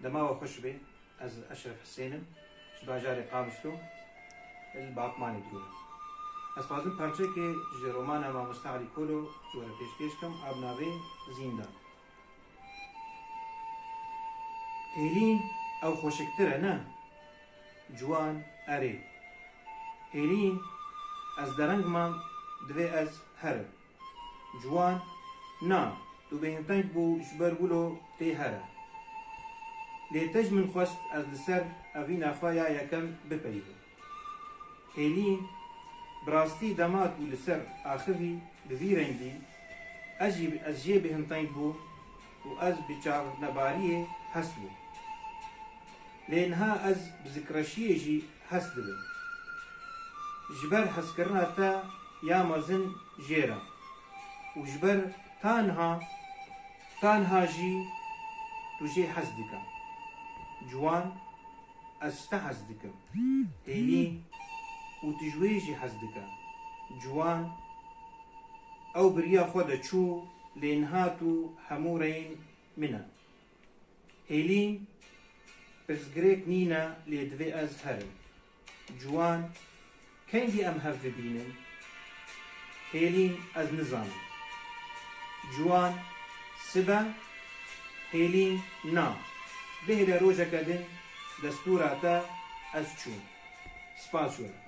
Dema we xweş be, ez Eşref Hisên im, ji bajarê Qabistû li Batmanê dibûm. Ez dixwazim parçeyekê ji romana Mamosta Elî Kolo ji we re pêşkêş kim a bi navê Zîndan. Hêlîn, ew xweşiktir e ne? Ciwan, Erê. Hêlîn, ez dereng mam, divê ez herim. Ciwan, Na, tu bêhinteng bû ji ber wilo tê here. Lê te ji min xwest ez li ser evîna xwe ya yekem bipeyivim. Hêlîn, Bi rastî dema tu li ser axivî bi vî rengî, ez jî ez jê bêhinteng bûm û ez bi çavnebariyê hest bûm. Lê niha ez bi zikreşiyê jî Hes dibe. Ji ber heskirina te ya mezin jêr e û ji ber tanha tanha jî tu jê hes dike. Ciwan, Ez ji te hes dikim. Hêlîn, Û tu ji wê jî hes dike. Ciwan, Ew bi riya xwe de çû lê niha tu hemû reyên min e. Hêlîn, Pirsgirêk nîne lê divê ez herim. Ciwan, Kengî em hev bibînin? Hêlîn, Ez nizanim. Ciwan, Sibe? Hêlîn, Na, bihêle rojeke din destûra te ez çûm. Spas were.